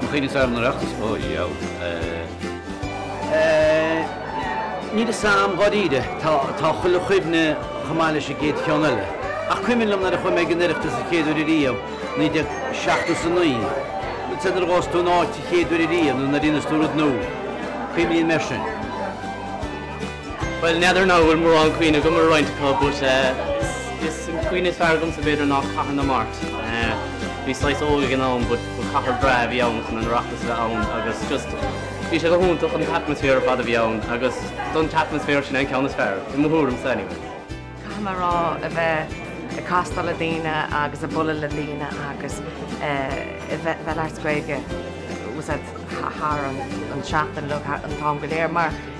An chuid is fearr den Oireachtas? Ó, dheabhail. Eeh. Níl 'fhios a'm dháiríre. Tá, tá chuile chuimhne chomh maith leis an gcéad cheann eile. Ach cuimhním nuair a chuaigh mé ag an Oireachtas an chéad uair ariamh, naoi déag seachtó 's a naoi. Rud sa, nuair a ghabhas tú in áit an chéad uair ariamh nó nuair a dhéanas tú rud nua. Cuimhníonn tú air sin. Bhuel, n'fheadar now an bhfuil mórán cuimhne agam ar roinnt acu but is é an cuimhne is fearr agamsa b'fhéidir ná Cathair na Mart. Bhíos saghas óg ag an am but ba cathair breá a bhí ann chun an Oireachtas a bheith ann agus just bhí sé go hiontach an t-atmaisféar ar fad a bhí ann agus don t-atmaisféar sin an ceann is fearr i mo thuairimse anyway. Caithfidh mé a rá a bheith ag castáil le daoine agus ag bualadh le daoine agus a bheith ag labhairt Gaeilge thar an seachtain nó an t-am go léir mar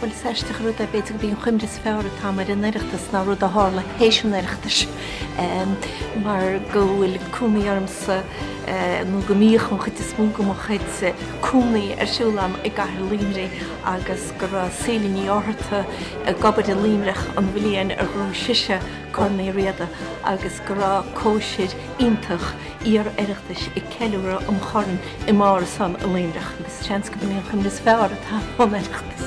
Bhuel, is aisteach an rud é, b'fhéidir go b'í an chuimhne is fearr atá agam ar an Oireachtas ná rud a tharla théis an Oireachtais mar go bhfuil cónaí ormsa, nó go mbíodh an chuid is mó de mo chuid cónaí ar siúl agam i gcathair Luimnigh agus go raibh Síle Ní Fhátharta ag obair i Luimneach an bhliain ar bhuaigh sise Corn Uí Riada agus go raibh cóisir iontach iar-Oireachtais ag ceiliúradh an Choirn i mBarr a' Son i Luimneach agus seans go mb'í an chuimhne is fearr atá ón Oireachtas.